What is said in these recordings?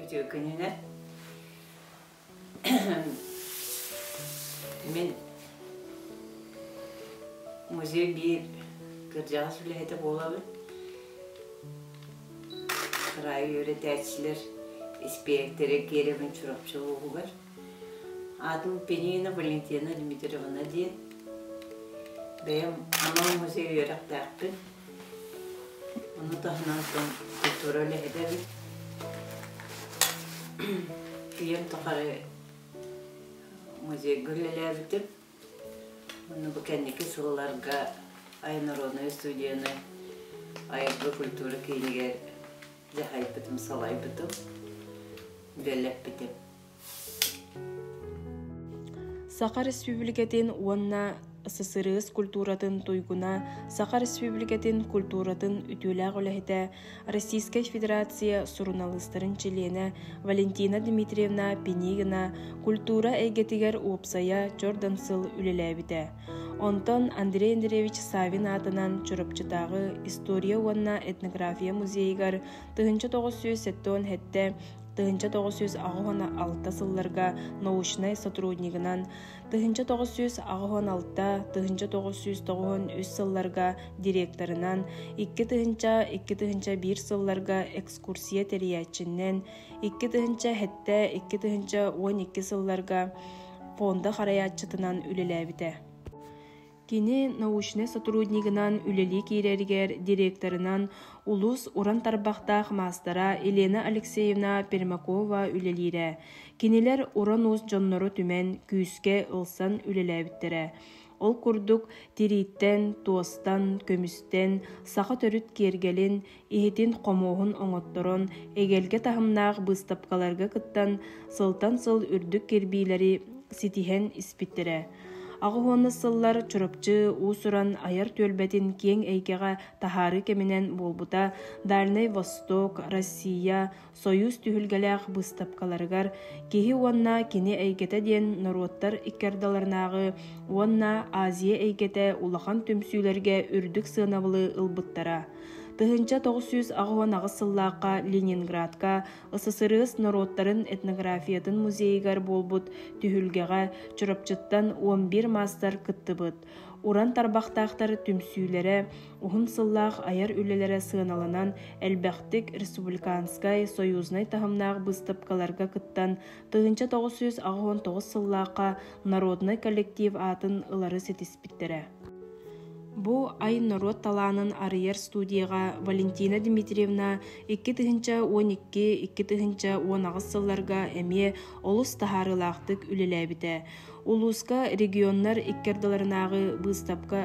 Үтүө күнүнэн. Мин музей биир кырдьаҕас үлэһитэ буолабын. Кыраайы үөрэтээччилэр испиэктэрэ киэрэбин Чурапчы улууһугар. аатын Пенина Валентина Дмитриевна диэн бэйэм анал музей үөрэхтээхпин ону таһынан сон культура үлэһитэбин ийэм тухары музейга үлэлээбитим ону бу кэнники сылларга айнародная студияны айылгы культура киинигэр дьаһайбытым салайбытым үлэлэппитим Саха Республикатын уонна ССРС культуратын туйгуна, Саха Республикатын культуратын үтүөлээх үлэһитэ, Российскай Федерация суруналыыстарын чилиэнэ Валентина Дмитриевна Пинигина культура эйгэтигэр уопсайа чордан сыл үлэлээбитэ. Онтон Андрей Андреевич Савин аатынан Чурапчытааҕы история уонна этнография музейыгар тыһынча тоҕус сүүс сэттэ уон тыһыынча тоҕус сүүс аҕыс уон алта сылларга научнай сотруднигынан тыһыынча тоҕус сүүс аҕыс уон алта тыһыынча тоҕус сүүс тоҕус үс сылларга директорынан икки тыһыынча икки тыһыынча биир сылларга экскурсия тэрийээччинэн икки тыһыынча сэттэ икки тыһыынча уон икки сылларга фонда харайааччытынан үлэлээбитэ Кини научнай сотруднигынан үлэлии киирэригэр директорынан улуус уран тарбахтаах маастара Елена Алексеевна Пермякова үлэлиирэ. Кинилэр уран-уус дьоннору түмэн, күүскэ ылсан үлэлээбиттэрэ. Ол курдук, тирииттэн, туостан, көмүстэн, саха төрүт киэргэлин, иһитин-хомуоһун оҥотторон, эгэлгэ таһымнаах быыстапкаларга кыттан, сылтан сыл үрдүк кирбиилэри ситиһэн испиттэрэ. Аҕыс уонна сыллар Чурапчы уус-уран айар түөлбэтин киэҥ эйгэҕэ таһаарыы кэминэн буолбута Дальнай Восток, Россия, Союз түһүлгэлээх быыстапкаларыгар киһи уонна кини эйгэтэ диэн норуоттар икки ардыларынааҕы уонна Азия эйгэтэ улахан түмсүүлэргэ үрдүк сыанабылы ылбыттара. Тыһыынча тоҕус сүүс аҕыһын аҕыс сыллаахха Ленинградка ССРС норуоттарын этнографиятын музейыгар буолбут түһүлгэҕэ Чурапчыттан он бир маастар кыттыбыт. Уран тарбахтаахтар түмсүүлэрэ, уһун сыллаах айар үлэлэрэ сыаналанан, элбэхтик республиканскай, союзнай таһымнаах быыстапкаларга кыттан, тыһыынча тоҕус сүүс аҕыс уон тоҕус сыллаахха народнай коллектив аатын ылары ситиспиттэрэ. Бу ай норуот талаанын арыйар студияҕа Валентина Дмитриевна икки тыһыынча уон икки, икки тыһыынча уон аҕыс сылларга эмиэ олус таһаарыылаахтык үлэлээбитэ. Улууска регионнар икки ардыларынааҕы быыстапка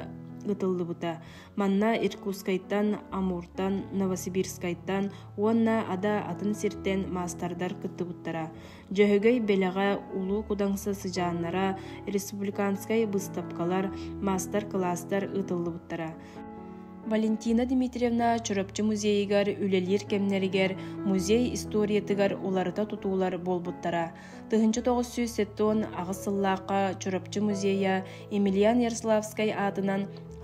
ыытыллыбыта. Манна Иркутскайтан, Амуртан, Новосибирскайтан уонна Ада атын сиртэн маастардар кыттыбыттара. Дьөһөгөй Бэлэҕэ Улуу Кудаҥса сыдьааннара, республиканскай быыстапкалар, маастар-кылаастар ыытыллыбыттара. Валентина Дмитриевна Чурапчы музейыгар үлэлиир кэмнэригэр музей историятыгар уларыта тутуулар буолбуттара. 1908 аҕыс сыллаахха Чурапчы музейа Емельян Ярославскай аатынан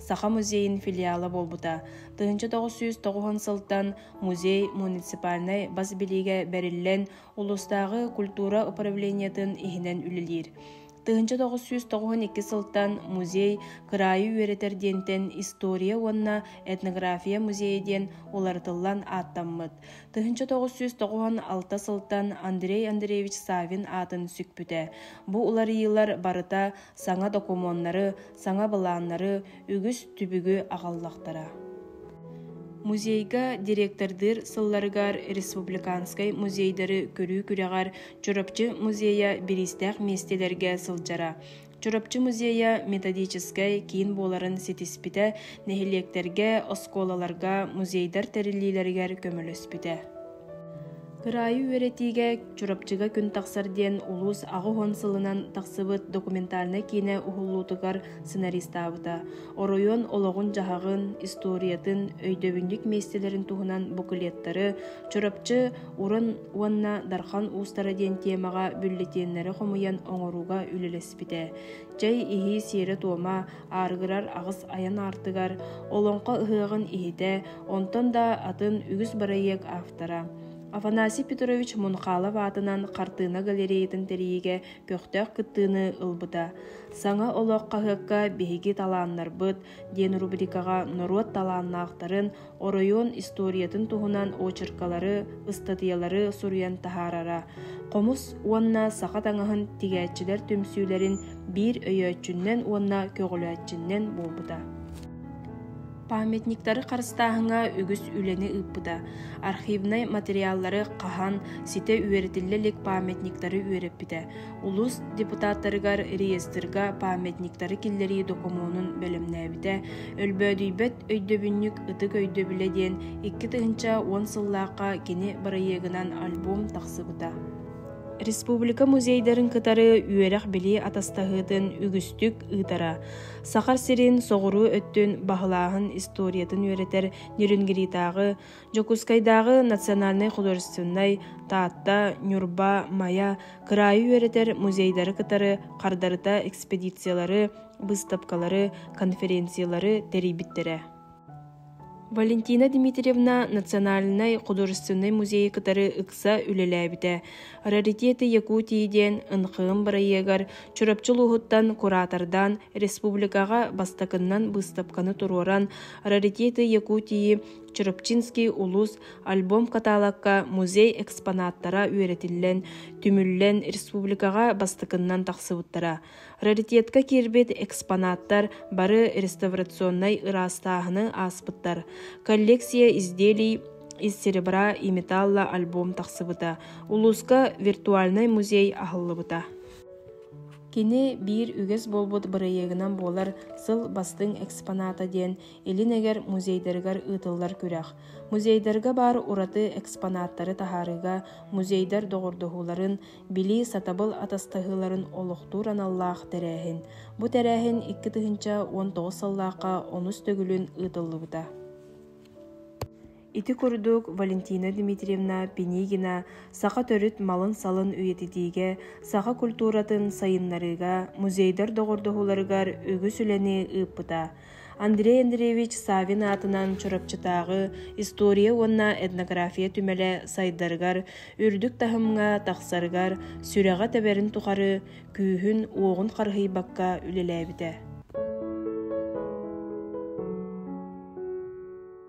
Саха музейин филиала буолбута. 1909 сылтан музей муниципальнай бас билиигэ бэриллэн, улуустааҕы культура управлениетын иһинэн үлэлиир. тыһыынча тоҕус сүүс тоҕуһун икки сылтан музей кыраайы үөрэтэр диэнтэн история уонна этнография музейа диэн уларытыллан ааттаммыт тыһыынча тоҕус сүүс тоҕуһун алта сылтан андрей андреевич савин аатын сүкпүтэ бу уларыйыылар барыта саҥа докумуоннары саҥа былааннары үгүс түбүгү аҕаллахтара музейга директордыыр сылларыгар республиканскай музейдары көрүү күрэҕэр Чурапчы музейа бириистээх миэстэлэргэ сылдьара. Чурапчы музейа методическай киин буоларын ситиспитэ, нэһилиэктэргэ, оскуолаларга, музейдар тэриллиилэригэр көмөлөспүтэ. Кыраайы үөрэтиигэ Чурапчыга күн тахсар диэн улуус аҕыс уон сылынан тахсыбыт документальнай киинэ уһуллуутугар сценаристаабыта. Оройуон олоҕун-дьаһаҕын, историятын, өйдөбүнньүк миэстэлэрин туһунан букулеттары Чурапчы Уран уонна Дархан уустара диэн тиэмэҕэ бюллетеннэри хомуйан оҥорууга үлэлэспитэ. Чэй иһии сиэрэ-туома, ааргырар аҕыс айан аартыгар, Олоҥхо ыһыаҕын иһитэ, онтон да атын үгүс бырайыак автора. Афанасий Петрович Мунхалов аатынан хартыына галереятын тэрийиигэ көхтөөх кыттыыны ылбыта. Саҥа олох хаһыакка биһиги талааннарбыт диэн рубрикаҕа норуот талааннаахтарын, оройуон историятын туһунан очеркалары, ыстатыйалары суруйан таһаарара, хомус уонна саха таҥаһын тигээччилэр түмсүүлэрин биир өйөөччүннэн уонна көҕүлээччиннэн буолбута. Памятниктары харыстааһыҥа үгүс үлэни ыыппыта. Архивнай материаллары хаһан, ситэ үөрэтиллэ илик памятниктары үөрэппитэ. улуус депутаттарыгар реестрга памятниктары киллэрии докумуонун бэлэмнээбитэ өлбөөдүйбэт өйдөбүнньүк ытык өйдөбүлэ диэн икки тыһыынча уон сыллаахха кини бырайыагынан альбом тахсыбыта республика музейдарын кытары үөрэх-билии атастаһыытын үгүстүк ыытара саха сирин соҕуруу өттүн баһылааһын историятын үөрэтэр нерюнгритааҕы Дьокуускайдааҕы национальнай-художественнай Таатта, Ньурба, Майа кыраайы үөрэтэр музейдары кытары хардарыта экспедициялары, быыстапкалары, конференциялары тэрийбиттэрэ. Валентина Дмитриевна национальнай-художественнай музейы кытары ыкса үлэлээбитэ. «Раритеты Якутии» диэн НХМ бырайыагар Чурапчы улууһуттан куратордаан республикаҕа бастакыннан быыстапканы туруоран «Раритеты Якутии» Чурапчинский улуус альбом каталогка музей экспонаттара үөрэтиллэн, түмүллэн республикаҕа бастакыннан тахсыбыттара. Раритетка киирбит экспонаттар бары реставрационнай ыраастааһыны ааспыттар. Коллекция изделий из серебра и металла альбом тахсыбыта. Улууска виртуальный музей аһыллыбыта. Кини биир үгэс буолбут бырайыагынан буолар сыл бастыҥ экспоната диэн Илин эҥэр музейдарыгар ыытыллар күрэх. Музейдарга баар ураты экспонаттары таһаарыыга музейдар доҕордоһууларын, билии сатабыл атастаһыыларын олохтуур аналлаах тэрээһин. Бу тэрээһин икки тыһыынча уон тоҕус сыллаахха онус төгүлүн ыытыллыбыта. Ити курдук Валентина Дмитриевна Пинигина саха төрүт малын-салын үйэтитиигэ, саха культуратын сайыннарыыга, музейдар доҕордоһууларыгар үгүс үлэни ыыппыта. Андрей Андреевич Савин аатынан Чурапчытааҕы история уонна этнография түмэлэ сайдарыгар, үрдүк таһымҥа тахсарыгар, сүрэҕэ тэбэрин тухары күүһүн-уоҕун харыһыйбакка үлэлээбитэ.